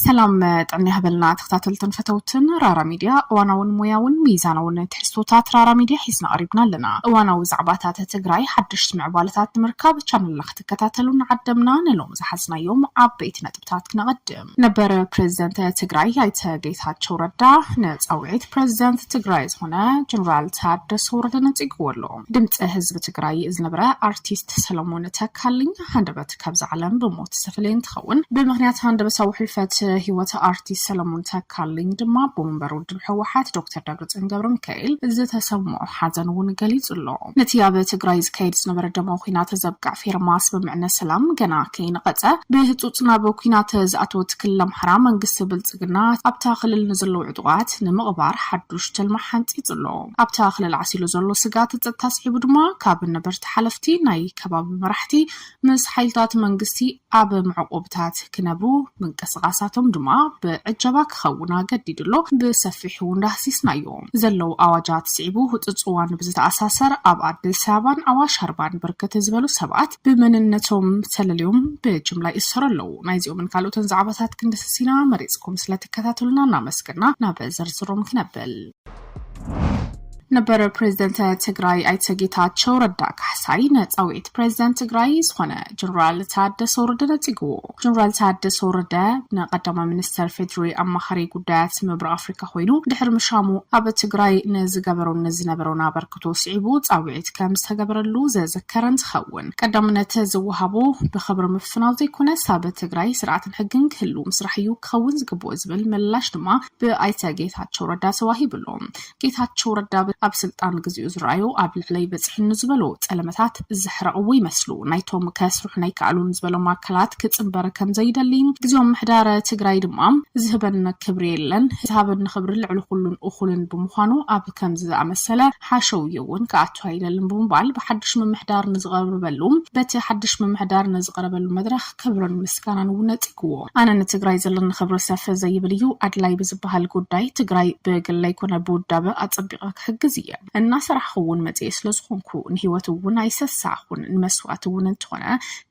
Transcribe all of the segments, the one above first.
ሰላም ጥዕና ይሃበልና ተኸታተልትን ፈተውትን ራራ ሚድያ እዋናውን ሞያውን ሚዛናውን ትሕዝቶታት ራራ ሚድያ ሒዝና ቀሪብና ኣለና እዋናዊ ዛዕባታት ትግራይ ሓደሽቲ ምዕባለታት ንምርካብ ቻነልና ክትከታተሉ ንዓደምና ንሎም ዝሓዝናዮም ዓበይቲ ነጥብ ነጥብታት ክነቐድም። ነበር ፕረዚደንት ትግራይ ኣይተ ጌታቸው ረዳ ንፃውዒት ፕረዚደንት ትግራይ ዝኾነ ጀነራል ታደሰ ወረደ ነፂግዎ ኣሎ። ድምፂ ህዝቢ ትግራይ ዝነበረ ኣርቲስት ሰለሞን ተካልኝ ሃንደበት ካብዛ ዓለም ብሞት ዝተፈለየ እንትኸውን ብምኽንያት ሃንደበታዊ ሕልፈት ህይወት ኣርቲስት ሰለሞን ተካልኝ ድማ ኣቦ መንበሩ ህወሓት ዶክተር ደብረፅዮን ገብረሚካኤል ዝተሰምዖ ሓዘን እውን ገሊፁ ኣሎ። ነቲ ኣብ ትግራይ ዝካየድ ዝነበረ ደማዊ ኲናት ዘብቅዕ ፌርማ ስምምዕነት ሰላም ገና ከይነቐፀ ብህፁፅ ናብ ኲናት ዝኣተወት ክልል ኣምሓራ መንግስቲ ብልፅግና ኣብታ ክልል ንዘለዉ ዕጡቓት ንምቕባር ሓዱሽ ትልሚ ሓንፂፁ ኣሎ። ኣብታ ክልል ዓሲሉ ዘሎ ስግኣት ፀጥታ ስዒቡ ድማ ካብ ነበርቲ ሓለፍቲ ናይ ከባቢ መራሕቲ ምስ ሓይልታት መንግስቲ ኣብ መዕቆብታት ክነብሩ ምንቅስቓሳቶም ድማ ብዕጀባ ክኸውን ኣገዲዱ ኣሎ። ብሰፊሑ እውን ዳህሲስናዮ። ዘለዉ ኣዋጃት ስዒቡ ህጹጽ እዋን ብዝተኣሳሰር ኣብ ኣዲስ ኣበባን ኣዋሽ ኣርባን ብርክት ዝበሉ ሰባት ብመንነቶም ተለልዮም ብጅምላ ይእሰሩ ኣለዉ። ናይዚኦምን ካልኦትን ዛዕባታት ክንድህስስ ኢና። መሪጽኩም ስለትከታተሉና እናመስገና ናብ ዝርዝሮም ክነብል። ነበረ ፕሬዝደንት ትግራይ ኣይተ ጌታቸው ረዳ ካሕሳይ ነፃዊዒት ፕሬዝደንት ትግራይ ዝኾነ ጀኔራል ታደሰ ወረደ ነፂግዎ። ጀኔራል ታደሰ ወረደ ንቀዳማይ ሚኒስተር ፌዴሪ ኣማኻሪ ጉዳያት ምብራቅ ኣፍሪካ ኮይኑ ድሕሪ ምሻሙ ኣብ ትግራይ ንዝገበሮን ንዝነበሮን ኣበርክቶ ስዒቡ ፃዊዒት ከም ዝተገበረሉ ዘዘከረ እንትኸውን ቀዳምነት ዝወሃቦ ብክብሪ ምፍናው ዘይኮነስ ኣብ ትግራይ ስርዓትን ሕግን ክህሉ ምስራሕ እዩ ክኸውን ዝግብኦ ዝብል ምላሽ ድማ ብኣይተ ጌታቸው ረዳ ተዋሂቡ ኣሎ። ጌታቸው ረዳ ኣብ ስልጣን ግዚኡ ዝረኣዮ ኣብ ልዕለይ በፂሑ ንዝበሎ ፀለመታት ዘሕረቕዎ ይመስሉ። ናይቶም ከስርሑና ኣይከኣሉን ዝበሎም ኣካላት ክፅምበር ከምዘይደሊ፣ ግዚኦም ምሕዳረ ትግራይ ድማ ዝህበን ክብሪ የለን፣ ዝሃበኒ ክብሪ ልዕሊ ኩሉን እኹልን ብምዃኑ ኣብ ከምዚ ዝኣመሰለ ሓሸውዮ እውን ክኣቱ ኣይደልን ብምባል ብሓዱሽ ምምሕዳር ንዝቐርበሉ በቲ ሓዱሽ ምምሕዳር ንዝቐረበሉ መድረኽ ክብርን ምስጋናን እውን ነጺግዎ። ኣነ ንትግራይ ዘለኒ ክብሪ ሰፍ ዘይብል እዩ። ኣድላይ ብዝበሃል ጉዳይ ትግራይ ብግለይ ኮነ ብውዳበ ኣጸቢቐ ክሕግዝ እየ። እናሰራሕኹ እውን መጺኤ ስለዝኾንኩ ንህይወት እውን ኣይሰሳዕኹን። ንመስዋእቲ እውን እንተኾነ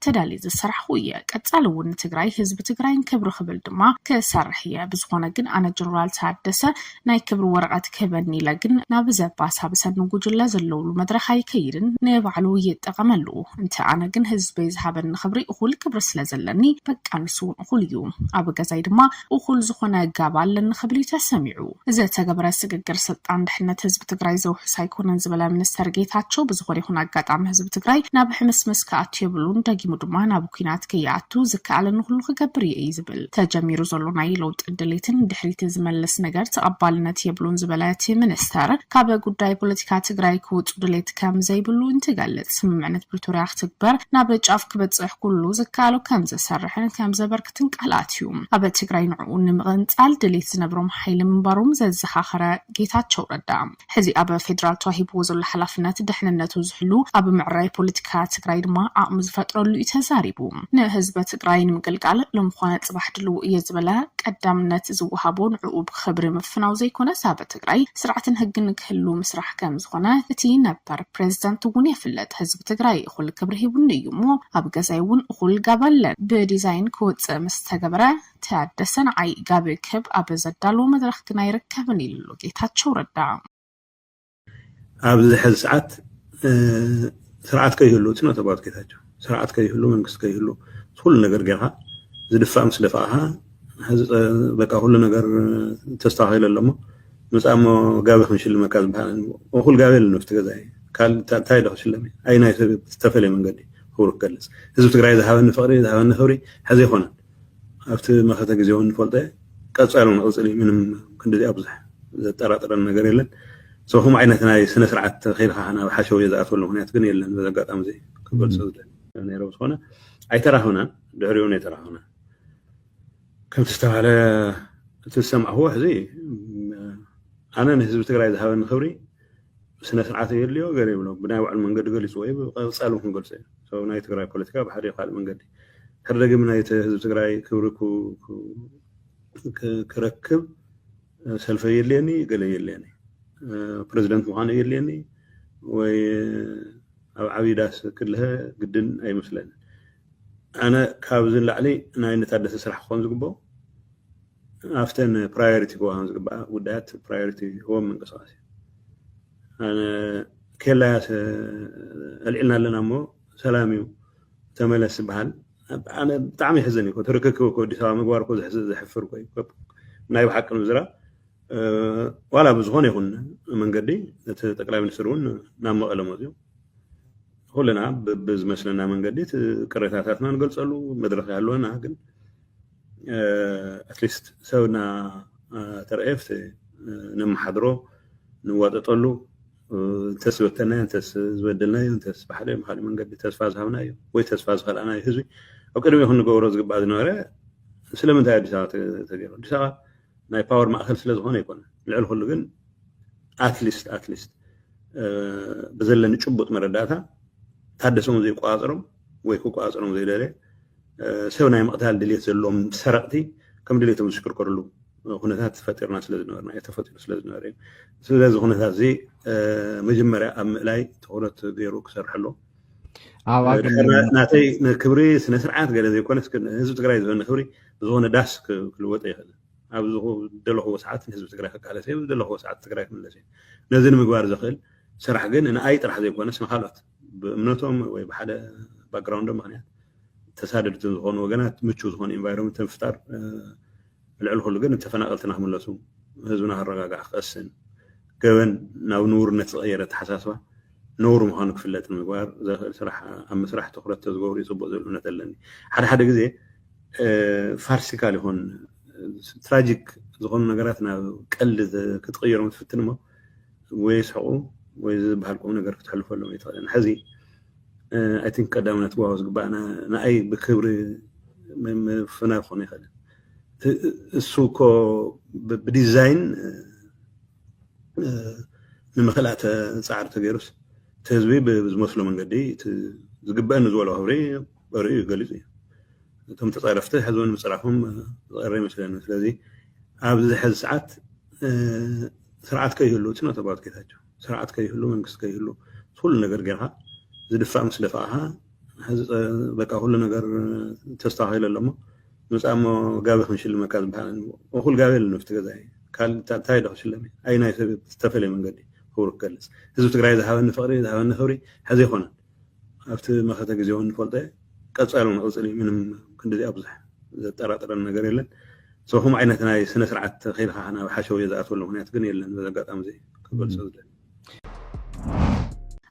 ተዳልየ ዝሰራሕኹ እየ። ቀጻሊ እውን ንትግራይ ህዝቢ ትግራይን ክብሪ ክብል ድማ ክሰርሕ እየ። ብዝኾነ ግን ኣነ ጀነራል ታደሰ ናይ ክብሪ ወረቐት ክህበኒ ኢለ ግን ናብ ዘባሳብሰኒ ጉጅለ ዘለውሉ መድረኽ ኣይከይድን ንባዕሉ ይጠቐመሉ እንተ ኣነ ግን ህዝበይ ዝሃበኒ ክብሪ እኹል ክብሪ ስለ ዘለኒ በቃ ንሱ እውን እኹል እዩ ኣብ ገዛይ ድማ እኹል ዝኾነ ጋብ ኣለኒ ክብል እዩ ተሰሚዑ። ዝተገበረ ስግግር ስልጣን ድሕነት ህዝቢ ትግራይ ዘውሕስ ኣይኮነን ዝበለ ሚኒስተር ጌታቸው ብዝኾነ ይኹን ኣጋጣሚ ህዝቢ ትግራይ ናብ ሕምስምስ ክኣቱ የብሉን ደጊሙ ድማ ናብ ኲናት ከይኣቱ ዝከኣለኒ ኩሉ ክገብር እየ እዩ ዝብል። ተጀሚሩ ዘሎ ናይ ለውጢ ድሌት ንድሕሪት ዝመልስ ነገር ተቐባልነት የብሉን ዝበለ እቲ ሚኒስተር ካብ ጉዳይ ፖለቲካ ትግራይ ክውፁ ድሌት ከም ዘይብሉ እንትገልፅ ስምምዕነት ፕሪቶርያ ክትግበር ናብ ጫፍ ክበፅሕ ኩሉ ዝከኣሎ ከም ዘሰርሕን ከም ዘበርክትን ቃል ኣትዩ ኣብ ትግራይ ንዕኡ ንምቕንፃል ድሌት ዝነብሮም ሓይሊ ምንባሮም ዘዘኻኸረ ጌታቸው ረዳ ሕዚ ኣብ ፌዴራል ተዋሂብዎ ዘሎ ሓላፍነት ደሕንነቱ ዝሕሉ ኣብ ምዕራይ ፖለቲካ ትግራይ ድማ ዓቕሚ ዝፈጥረሉ እዩ ተዛሪቡ። ንህዝቢ ትግራይ ንምግልጋል ሎሚ ኾነ ፅባሕ ድልው እየ ዝበለ ቀዳምነት ዝወሃቦ ንዕኡ ብኽብሪ ምፍናው ዘይኮነስ ኣብ ትግራይ ስርዓትን ህግን ክህሉ ምስራሕ ከምዝኾነ እቲ ነበር ፕሬዝደንት እውን የፍልጥ። ህዝቢ ትግራይ እኹል ክብሪ ሂቡኒ እዩ እሞ ኣብ ገዛይ እውን እኹል ጋባለ ብዲዛይን ክወፅእ ምስተገበረ ታደሰ ንዓይ ጋብ ክብ ኣብ ዘዳልዎ መድረኽ ግን ኣይርከብን ኢሉ ኣሎ ጌታቸው ረዳ። ኣብዚ ሕዚ ሰዓት ስርዓት ከይህሉ እቲ ነተጓት ጌታቸው ስርዓት ከይህሉ መንግስቲ ከይህሉ ኩሉ ነገር ጌርካ ዝድፋእ ምስ ደፋእኻ ሕዚ በቃ ኩሉ ነገር ተስተኻኺለ ኣለሞ ምፃሞ ጋቢ ክንሽልመካ ዝበሃል እኹል ጋቢ የለን ኣብቲ ገዛ እንታይ ዶ ክሽለም ኣይ ናይ ዝተፈለየ መንገዲ ክብሩ ክገልፅ ህዝቢ ትግራይ ዝሃበኒ ፍቅሪ ዝሃበኒ ክብሪ ሕዚ ኣይኮነን ኣብቲ መኸተ ግዜ እውን ንፈልጦ እየ ቀፃሊ እውን ክቕፅል እዩ ምንም ክንድዚ ኣብዙሕ ዘጠራጥረን ነገር የለን ሰው ከምኡ ዓይነት ናይ ስነ ስርዓት ተኺልካ ናብ ሓሸውየ ዝኣትወሉ ምክንያት ግን የለን በዚ ኣጋጣሚ እዚ ክገልፆ ዝደሊ ነይረ ዝኾነ ኣይተራኸብናን ድሕሪኡ እውን ኣይተራኸብናን ከምቲ ዝተባሃለ እቲ ዝሰማዕኹዎ ሕዚ ኣነ ንህዝቢ ትግራይ ዝሃበኒ ክብሪ ስነ ስርዓት የድልዮ ገለ ይብሎ ብናይ ባዕሉ መንገዲ ገሊፅዎ እዩ ብቐፃሉ ክንገልፆ እዩ ሰበብ ናይ ትግራይ ፖለቲካ ብሓደ ይኹን ካልእ መንገዲ ድሕሪ ደጊም ናይ ህዝቢ ትግራይ ክብሪ ክረክብ ሰልፈይ የድልየኒ ገለ የድልየኒ ፕረዚደንት ምዃኑ የድልየኒ ወይ ኣብ ዓብዪ ዳስ ክልሀ ግድን ኣይመስለኒ ኣነ ካብዚ ንላዕሊ ናይ ንታደሰ ስራሕ ክኾን ዝግብኦ ኣብተን ፕራዮሪቲ ክወሃም ዝግባኣ ጉዳያት ፕራዮሪቲ ህቦም ምንቅስቃስ እዩ ኣነ ኬላያ ኣልዒልና ኣለና እሞ ሰላም እዩ ተመለስ ዝበሃል ኣነ ብጣዕሚ ይሕዝን እዩ ትርክክብ እኮ ኣዲስ ኣበባ ምግባር እኮ ዘሕፍር እኮ እዩ ናይ ብሓቂ ምዝራ ዋላ ብዝኾነ ይኹን መንገዲ እቲ ጠቅላይ ሚኒስትር እውን ናብ መቐለ መፅኡ ኩልና ብዝመስለና መንገዲ ቅሬታታትና ንገልፀሉ መድረክ ያለወና ግን ኣትሊስት ሰብና ተረእየስ ነመሓድሮ ንዋጠጠሉ እንተስ ዝበተናዮ እንተስ ዝበደልናዮ እንተስ ብሓደ ብካሊእ መንገዲ ተስፋ ዝሃብናዮ ወይ ተስፋ ዝኸልኣናዮ ህዝቢ ኣብ ቅድሚ ክንገብሮ ዝግባእ ዝነበረ ስለምንታይ ኣዲስ ኣበባ ተገይሩ ኣዲስ ኣበባ ናይ ፓወር ማእከል ስለ ዝኾነ ይኮነ ልዕሊ ኩሉ ግን ኣትሊስት ኣትሊስት ብዘለኒ ጭቡጥ መረዳእታ ታደሰ እውን ዘይቆፃፀሮም ወይ ክቆጻጸሮም ዘይደለ ሰብ ናይ ምቕታል ድሌት ዘለዎም ሰረቕቲ ከም ድሌቶም ዝሽክርከርሉ ኩነታት ፈጢርና ስለ ዝነበርና እዩ ተፈጢሩ ስለ ዝነበረ እዩ ስለዚ ኩነታት እዚ መጀመርያ ኣብ ምእላይ ትኩረት ገይሩ ክሰርሐሎ ናተይ ክብሪ ስነ ስርዓት ገለ ዘይኮነ ህዝቢ ትግራይ ዝኮነ ክብሪ ብዝኮነ ዳስ ክልወጠ ይኽእል ኣብ ዝደለኹዎ ሰዓት ንህዝቢ ትግራይ ክቃለሰ እዩ ዝደለኹዎ ሰዓት ትግራይ ክምለስ እዩ ነዚ ንምግባር ዘኽእል ስራሕ ግን ንኣይ ጥራሕ ዘይኮነስ ንካልኦት ብእምነቶም ወይ ብሓደ ባክግራውንዶም ምክንያት ተሳደድቲ ዝኾኑ ወገናት ምቹው ዝኾነ ኢንቫይሮመንት ምፍጣር ልዕሊ ኩሉ ግን ተፈናቀልትና ክምለሱ ህዝብና ክረጋጋዕ ክቀስን ገበን ናብ ንውርነት ዝቐየረ ኣተሓሳስባ ነውሪ ምዃኑ ክፍለጥ ምግባር ዘኽእል ስራሕ ኣብ ምስራሕ ትኩረት ተዝገብሩ ይፅቡቅ ዝብል እምነት ኣለኒ ሓደ ሓደ ግዜ ፋርሲካል ይኹን ትራጂክ ዝኾኑ ነገራት ናብ ቀልዲ ክትቕይሮም ትፍትን እሞ ወይ ይስሕቁ ወይ ዝበሃል ቁም ነገር ክትሕልፈሎም ኣይትኽእልን ሕዚ ኣይ ቲንክ ቀዳምነት ክዋሃቦ ዝግባእ ንኣይ ብክብሪ ምፍናው ክኾን ይኽእል እሱ እኮ ብዲዛይን ንምክልኣ ፃዕሪ ተገይሩስ እቲ ህዝቢ ብዝመስሎ መንገዲ ዝግበአኒ ዝበሎ ክብሪ ጸርኡ ገሊጹ እዩ። እቶም ተጻረፍቲ ሕዚ እውን ምጽራፎም ዝቐረ ይመስለኒ። ስለዚ ኣብዚ ሕዚ ሰዓት ስርዓት ከይህሉ እቲ ነተባት ጌታቸው ስርዓት ከይህሉ መንግስቲ ከይህሉ ኩሉ ነገር ጌርካ ዝድፋእ ምስ ደፋእኻ ሕዚ በቃ ኩሉ ነገር ተስተኻኺሉ ኣሎ እሞ ምጻእ እሞ ጋቢ ክንሽልመካ ዝበሃል እኹል ጋቢ የለን ኣብቲ ገዛ እንታይ ዶ ክሽለም ኣይ ናይ ሰብ ዝተፈለየ መንገዲ ክብሩ ክገልጽ ህዝቢ ትግራይ ዝሃበኒ ፍቕሪ ዝሃበኒ ክብሪ ሕዚ ኣይኮነን ኣብቲ መኸተ ግዜ እውን ንፈልጦ እዩ ቀጻሉ ንቕጽል እዩ ምንም ክንድዚ ኣብዙሕ ዘጠራጥረን ነገር የለን ሰው ከምኡ ዓይነት ናይ ስነ ስርዓት ተኺልካ ናብ ሓሸውየ ዝኣትወሉ ምክንያት ግን የለን በዚ ኣጋጣሚ እዚ ክገልፆ ዝደሊ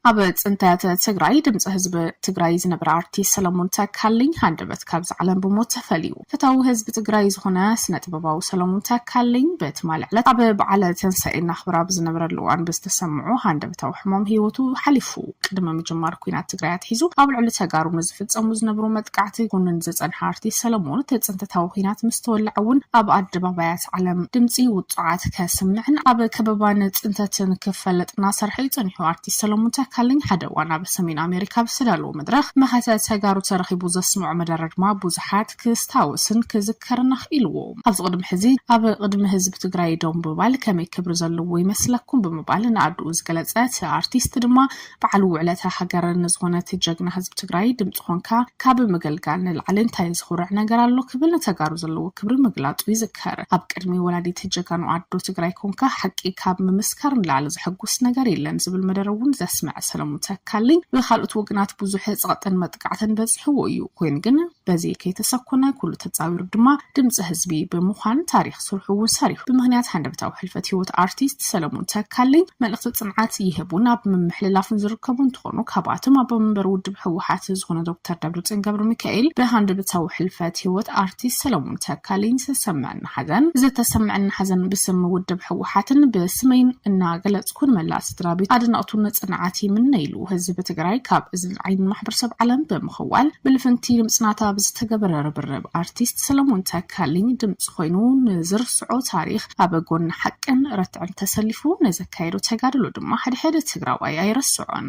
ኣብ ፅንተት ትግራይ ድምፂ ህዝቢ ትግራይ ዝነበረ ኣርቲስት ሰለሙን ተካልኝ ሃንደበት ካብዚ ዓለም ብሞት ተፈልዩ ፈታዊ ህዝቢ ትግራይ ዝኹነ ስነጥበባዊ ሰለሙን ተካልኝ ብትማሊ ዕለት ኣብ በዓለ ተንሳኤ እናኽብር ኣብ ዝነበረሉ እዋን ብዝተሰምዖ ሃንደበታዊ ሕሞም ህይወቱ ሓሊፉ። ቅድሚ ምጅማር ኩናት ትግራይ ኣትሒዙ ኣብ ልዕሊ ተጋሩ ንዝፍፀሙ ዝነብሩ መጥቃዕቲ ክኹንን ዝፀንሐ ኣርቲስት ሰለሙን እቲ ፅንተታዊ ኹናት ምስተወልዐ እውን ኣብ ኣደባባያት ዓለም ድምፂ ውፁዓት ከስምዕን ኣብ ከበባን ፅንተትን ክፈለጥ እናሰርሐ እዩ ፀኒሑ። ኣርቲስት ሰለሙን ተካልኝ ሓደ እዋን ኣብ ሰሜን ኣሜሪካ ብዝተዳለወ መድረኽ መኸተ ተጋሩ ተረኺቡ ዘስምዖ መደረ ድማ ብዙሓት ክስታወስን ክዝከርን ኣኽኢልዎ። ኣብዚ ቅድሚ ሕዚ ኣብ ቅድሚ ህዝቢ ትግራይ ደው ምባል ከመይ ክብሪ ዘለዎ ይመስለኩም ብምባል ንኣድኡ ዝገለፀ እቲ ኣርቲስት ድማ በዓል ውዕለታ ሃገር ንዝኾነ እቲ ጀግና ህዝቢ ትግራይ ድምፂ ኾንካ ካብ ምግልጋል ንላዕሊ እንታይ ዝኹርዕ ነገር ኣሎ ክብል ንተጋሩ ዘለዎ ክብሪ ምግላፁ ይዝከር። ይዘከር ኣብ ቅድሚ ወላዲት ጀጋኑ ኣዶ ትግራይ ኮንካ ሓቂ ካብ ምምስካር ንላዕሊ ዘሐጉስ ነገር የለን ዝብል መደረ እውን ዘስመዐ ሰለሙን ተካልኝ ብካልኦት ወገናት ብዙሕ ፀቕጥን መጥቃዕትን በፂሕዎ እዩ ኮይኑ ግን በዚ ከይተሰኮነ ኩሉ ተፃዊሩ ድማ ድምፂ ህዝቢ ብምዃን ታሪክ ስርሑ እውን ሰሪሑ ብምክንያት ሃንደበታዊ ሕልፈት ሂወት ኣርቲስት ሰለሙን ተካልኝ መልእክቲ ፅንዓት ይህቡን ኣብ ምምሕልላፍን ዝርከቡ እንትኾኑ ካብኣቶም ኣቦ መንበር ውድብ ህወሓት ዝኾነ ዶክተር ደብረፅዮን ገብረሚካኤል ብሃንደበታዊ ሕልፈት ሂወት ኣርቲስት ሰለሙን ተካልኝ ዝተሰመዐኒ ሓዘን ዝተሰመዐኒ ሓዘን ብስም ውድብ ህወሓትን ብስመይን እናገለፅኩ ንመላእ ስድራቤት ኣድነቕቱን ፅንዓት ይምነይሉ ህዝቢ ትግራይ ካብ እዝን ዓይንን ማሕበረሰብ ዓለም ብምኽዋል ብልፍንቲ ንምፅናታ ብዝተገበረ ርብርብ ኣርቲስት ሰለሙን ተካልኝ ድምፂ ኮይኑ ንዝርስዖ ታሪኽ ኣብ ጎኒ ሓቅን ርትዕን ተሰሊፉ ንዘካየዶ ተጋድሎ ድማ ሓደ ሓደ ትግራዋይ ኣይረስዖን።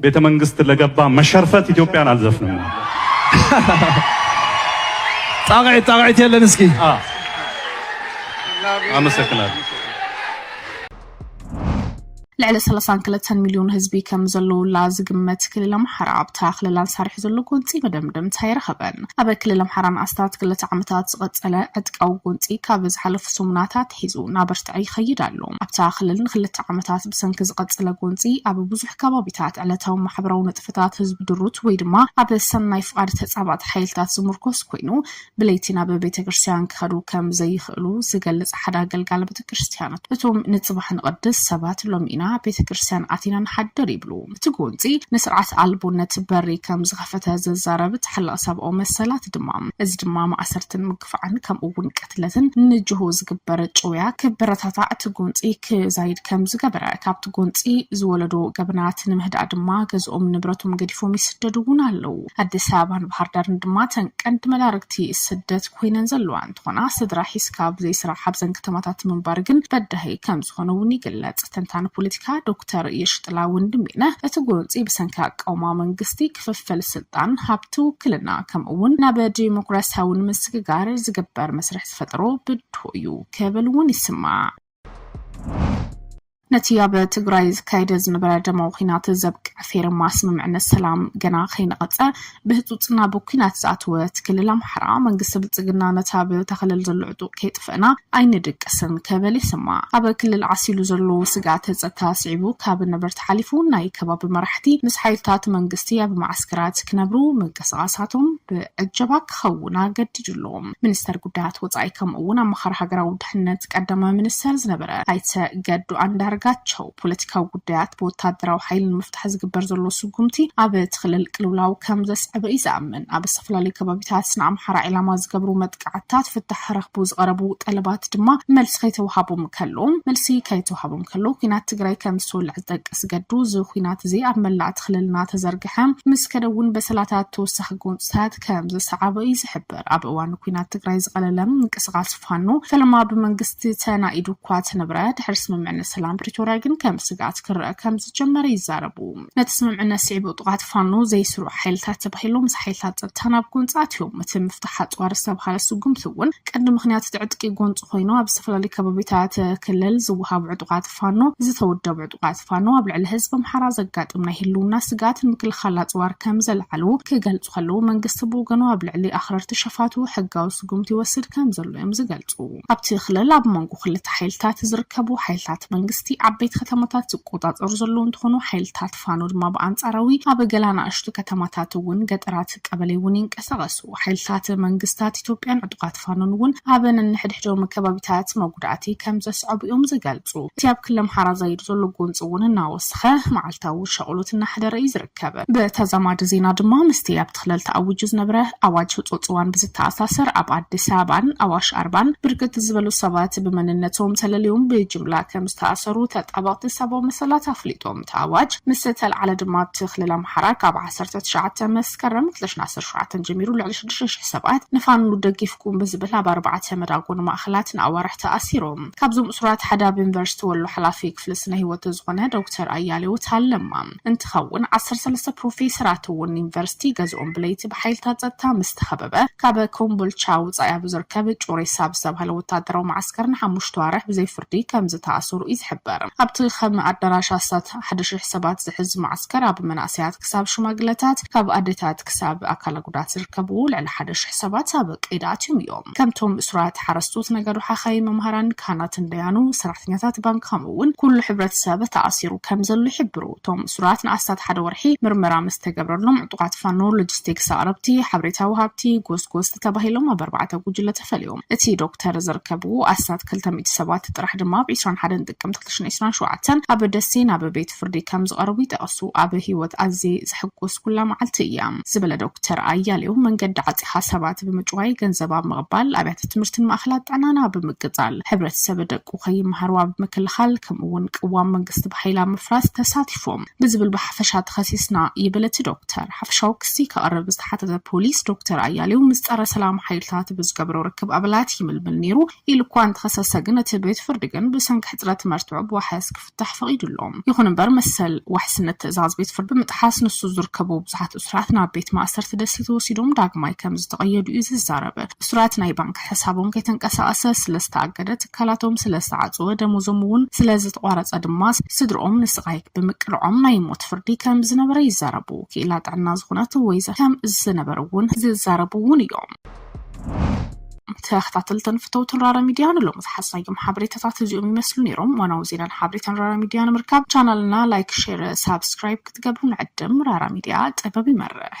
ቤተ መንግስት ለገባ መሸርፈት ኢትዮጵያን አልዘፍንም። ጣቅዒት ጣቅዒት የለን እስኪ አመሰግናለሁ። ልዕሊ ሰላሳን ክልተን ሚልዮን ህዝቢ ከም ዘለውላ ዝግመት ክልል ኣምሓራ ኣብታ ክልላን ሳርሒ ዘሎ ጎንፂ መደምደምታ ይረኸበን ኣብ ክልል ኣምሓራን ኣስታት ክልተ ዓመታት ዝቐፀለ ዕጥቃዊ ጎንፂ ካብ ዝሓለፉ ሰሙናታት ሒዙ እናበርትዐ ይኸይድ ኣሎ። ኣብታ ክልል ንክልተ ዓመታት ብሰንኪ ዝቐፀለ ጎንፂ ኣብ ብዙሕ ከባቢታት ዕለታዊ ማሕበራዊ ንጥፈታት ህዝቢ ድሩት ወይ ድማ ኣብ ሰናይ ፍቓድ ተፃባእቲ ሓይልታት ዝሙርኮስ ኮይኑ ብለይቲ ናብ ቤተክርስትያን ክኸዱ ከም ዘይኽእሉ ዝገልፅ ሓደ ኣገልጋሊ ቤተክርስትያን እቶም ንፅባሕ ንቐድስ ሰባት ሎሚ ኢና ቤተክርስትያን ኣቲና ንሓድር ይብሉ። እቲ ጎንፂ ንስርዓት ኣልቦነት በሪ ከም ዝኸፈተ ዝዛረብ ተሓላቒ ሰብኣዊ መሰላት ድማ እዚ ድማ ማእሰርትን ምግፋዕን ከምኡ እውን ቅትለትን ንጅሆ ዝግበር ጭውያ ክበረታታዕ እቲ ጎንፂ ክዛይድ ከም ዝገበረ ካብቲ ጎንፂ ዝወለዶ ገበናት ንምህዳእ ድማ ገዝኦም ንብረቶም ገዲፎም ይስደዱ እውን ኣለዉ። ኣዲስ ኣበባን ባህርዳርን ድማ እተን ቀንዲ መዳርግቲ ስደት ኮይነን ዘለዋ እንተኾና ስድራ ሒዝካ ብዘይ ስራሕ ኣብዘን ከተማታት ምንባር ግን በዳሂ ከምዝኾነ እውን ይግለፅ። ተንታኒ ፖለቲካ ዶክተር የሽጥላ ወንድሜነህ እቲ ጎንፂ ብሰንኪ ኣቃውማ መንግስቲ፣ ክፍፍል ስልጣን፣ ሃብቲ፣ ውክልና ከምኡ እውን ናብ ዴሞክራሲያዊ ንምስግጋር ዝግበር መስርሕ ዝፈጠሮ ብድሆ እዩ ክብል እውን ይስማዕ። ነቲ ኣብ ትግራይ ዝካየደ ዝነበረ ደማዊ ኩናት ዘብቅዕ ፌርማ ስምምዕነት ሰላም ገና ከይነቐፀ ብህፁፅና ብኩናት ዝኣተወ እቲ ክልል ኣምሓራ መንግስቲ ብልፅግና ነቲ ኣብ ተኸለል ዘሎ ዕጡቕ ከይጥፈእና ኣይንድቅስን ከበል ይስማዕ ኣብ ክልል ዓሲሉ ዘሎ ስግኣተ ፀጥታ ስዒቡ ካብ ነበርቲ ሓሊፉ ናይ ከባቢ መራሕቲ ምስ ሓይልታት መንግስቲ ኣብ ማዓስከራት ክነብሩ ምንቅስቓሳቶም ብዕጀባ ክኸውን ኣገዲዱ ኣሎ ሚኒስተር ጉዳያት ወፃኢ ከምኡ እውን ኣማኻሪ ሃገራዊ ድሕነት ቀዳማይ ሚኒስተር ዝነበረ ኣይተ ገዱ ኣንዳርጋቸው ፖለቲካዊ ጉዳያት ብወታደራዊ ሓይሊ ንምፍታሕ ዝግበር ዘሎ ስጉምቲ ኣብ እቲ ክልል ቅልውላው ከም ዘስዕበ እዩ ዝኣምን ኣብ ዝተፈላለዩ ከባቢታት ንኣምሓራ ዒላማ ዝገብሩ መጥቃዕትታት ፍታሕ ክረኽቡ ዝቐረቡ ጠለባት ድማ መልሲ ከይተዋሃቦም ከሎ መልሲ ከይተዋሃቦም ከሎ ኩናት ትግራይ ከም ዝተወልዐ ዝጠቅስ ገዱ እዚ ኩናት እዚ ኣብ መላእቲ ክልልና ተዘርግሐ ምስ ከደውን በሰላታት ተወሳኺ ጎንፅታት ከም ዘሰዓበ እዩ ዝሕብር ይግበር። ኣብ እዋን ኩናት ትግራይ ዝቐለለ ምንቅስቓስ ፋኖ ፈለማ ብመንግስቲ ተናኢዱ እኳ ተነብረ ድሕሪ ስምምዕነት ሰላም ፕሪቶርያ ግን ከም ስግኣት ክረአ ከም ዝጀመረ ይዛረቡ። ነቲ ስምምዕነት ስዒቡ ጥቓት ፋኖ ዘይስሩዕ ሓይልታት ተባሂሎም ምስ ሓይልታት ጸጥታ ናብ ጎንፂ ኣትዮም። እቲ ምፍታሕ ኣፅዋር ዝተብሃለ ስጉምቲ እውን ቀንዲ ምኽንያት እቲ ዕጥቂ ጎንፂ ኮይኑ ኣብ ዝተፈላለዩ ከባቢታት ክልል ዝወሃቡ ዕጡቓት ተዋጋእቲ ፋኖ፣ ዝተወደቡ ዕጡቓት ፋኖ ኣብ ልዕሊ ህዝቢ ኣምሓራ ዘጋጥም ናይ ህልውና ስግኣት ንምክልኻል ኣፅዋር ከምዘልዓሉ ክገልፁ ከለው መንግስቲ ብወገኑ ኣብ ልዕሊ ኣኽረርቲ ሸፋቱ ሕጋዊ ስጉምቲ ይወስድ ከምዘሎ እዮም ዝገልፁ። ኣብቲ ክልል ኣብ መንጎ ክልተ ሓይልታት ዝርከቡ ሓይልታት መንግስቲ ዓበይቲ ከተማታት ዝቆፃፀሩ ዘለው እንትኾኑ ሓይልታት ፋኖ ድማ ብኣንጻራዊ ኣብ ገለ ኣናእሽቱ ከተማታት እውን ገጠራት ቀበሌ እውን ይንቀሳቐሱ። ሓይልታት መንግስታት ኢትዮጵያን ዕጡቓት ፋኖን እውን ኣብ ነንሕድሕዶም ከባቢታት መጉዳእቲ ከም ዘስዐቡ እዮም ዝገልጹ። እቲ ኣብ ክሊ ኣምሓራ ዛይዱ ዘሎ ጎንፂ እውን እናወሰኸ መዓልታዊ ሻቕሎት እናሕደረ እዩ ዝርከብ። ብተዛማዲ ዜና ድማ ምስቲ ኣብቲ ክልል ተኣዊጁ ዝነበረ ኣዋጅ ህፁፅ እዋን ብዝተኣሳሰር ኣብ ኣዲስ ኣበባን ኣዋሽ ኣርባን ብርክት ዝበሉ ሰባት ብመንነቶም ተለልዮም ብጅምላ ከም ዝተኣሰሩ ተጣበቕቲ ሰባዊ መሰላት ኣፍሊጦም። እቲ ኣዋጅ ምስ ዝተልዓለ ድማ ኣብቲ ክልል ኣምሓራ ካብ ዓሰርተ ትሽዓተ መስከረም ክልተ ሽሕን ዓሰርተ ሸውዓተን ጀሚሩ ልዕሊ ሽዱሽተ ሽሕ ሰባት ንፋኖ ደጊፍኩም ብዝብል ኣብ ኣርባዕተ መዳጎኒ ማእኸላት ንኣዋርሕ ተኣሲሩ። ካብዞም እሱራት ሓደ ኣብ ዩኒቨርሲቲ ወሎ ሓላፊ ክፍሊ ስነ ህይወት ዝኾነ ዶክተር ኣያሌው ታለማ እንትኸውን ዓሰርተ ሰለስተ ፕሮፌሰራት እውን ዩኒቨርሲቲ ገዝኦም ብለይቲ ብሓይልታት ፀጥታ ምስ ተኸበበ ካብ ኮምቦልቻ ወፃኢ ኣብ ዝርከብ ጩሬሳ ብዝተብሃለ ወታደራዊ መዓስከር ንሓሙሽተ ኣዋርሕ ብዘይ ዓዲ ከም ዝተኣሰሩ'ዩ ዝሕበር። ኣብቲ ከም ኣዳራሽ ኣስታት ሓደ ሽሕ ሰባት ዝሕዝ መዓስከር፣ ኣብ መናእሰያት ክሳብ ሽማግለታት፣ ካብ ኣዴታት ክሳብ ኣካለ ጉዳት ዝርከብዎ ልዕሊ ሓደ ሽሕ ሰባት ኣብ ቀይዲ ኣትዮም እዮም። ከምቶም እሱራት፣ ሓረስቶት፣ ነጋዶ፣ ሓኻይም፣ መማህራን፣ ካህናትን ደያኑ፣ ሰራሕተኛታት ባንክ ከምኡ'ውን ኩሉ ሕብረተሰብ ተኣሲሩ ከም ዘሎ ይሕብሩ። እቶም እሱራት ንኣስታት ሓደ ወርሒ ምርመራ ምስ ተገብረሎም ዕጡቓት ፋኖ፣ ሎጂስቲክስ ኣቕረብቲ፣ ሓበሬታ ወሃብቲ፣ ጎስጎስቲ ተባሂሎም ኣብ ኣርባዕተ ጉጅለ ተፈልዮም። እቲ ዶክተር ዝርከብዎ ኣስታት ክልተ ሚእቲ ሰባት ጥራሕ ድማ ኣብ ዕስራን ሓደን ጥቅምቲ ክልተ ሽሕን ዕስራን ሸውዓተን ኣብ ደሴ ናብ ቤት ፍርዲ ከምዝቐረቡ ይጠቕሱ። ኣብ ህይወት ኣዝየ ዘሕጎስኩላ መዓልቲ እያ ዝበለ ዶክተር ኣያሌው፣ መንገዲ ዓፂኻ ሰባት ብምጭዋይ፣ ገንዘብ ኣብ ምቕባል፣ ኣብያተ ትምህርትን ማእኸላት ጥዕናን ኣብ ምቅፃል፣ ሕብረተሰብ ደቁ ከይመሃሩ ኣብ ምክልኻል ከምኡ እውን ቅዋም መንግስቲ ብሓይሊ ኣብ ምፍራስ ተሳቲፎም። ብዝብል ብሓፈሻ ተኸሲስና ይብል እቲ ዶክተር። ሓፈሻዊ ክሲ ከቕርብ ዝተሓተተ ፖሊስ፣ ዶክተር ኣያሌው ምስ ጸረ ሰላም ሓይልታት ብዝገብሮ ርክብ ኣባላት ይምልምል ነይሩ ኢሉ እኳ እንተኸሰሰ ግን እቲ ቤት ፍርዲ ግን ብሰንኪ ሕጽረት መርትዖ ብዋሕስ ክፍታሕ ፈቒዱ ኣሎ። ይኹን እምበር መሰል ዋሕስነት ትእዛዝ ቤት ፍርዲ ብምጥሓስ ንሱ ዝርከቦ ብዙሓት እሱራት ናብ ቤት ማእሰርቲ ደሴት ወሲዶም ዳግማይ ከምዝተቐየዱ እዩ ዝዛረብ እሱራት ናይ ባንክ ሕሳቦም ከይተንቀሳቐሰ ስለዝተኣገደ፣ ትካላቶም ስለዝተዓጽወ፣ ደሞዞም እውን ስለዝተቋረጸ ድማ ስድርኦም ንስቓይ ብምቅልዖም ናይ ሞት ፍርዲ ከም ዝነበረ ይዛረቡ። ክኢላ ጥዕና ዝኾነት ወይዘ ከም ዝነበሩ እውን ዝዛረቡ እውን እዮም። ተኸታተልትን ፍተውትን ራራ ሚድያ ንሎሚ ዝሓዝናዮም ሓበሬታታት እዚኦም ይመስሉ ነይሮም። ዋናዊ ዜናን ሓበሬታን ራራ ሚድያ ንምርካብ ቻናልና ላይክ፣ ሼር፣ ሳብስክራይብ ክትገብሩ ንዕድም። ራራ ሚድያ ጥበብ ይመርሕ።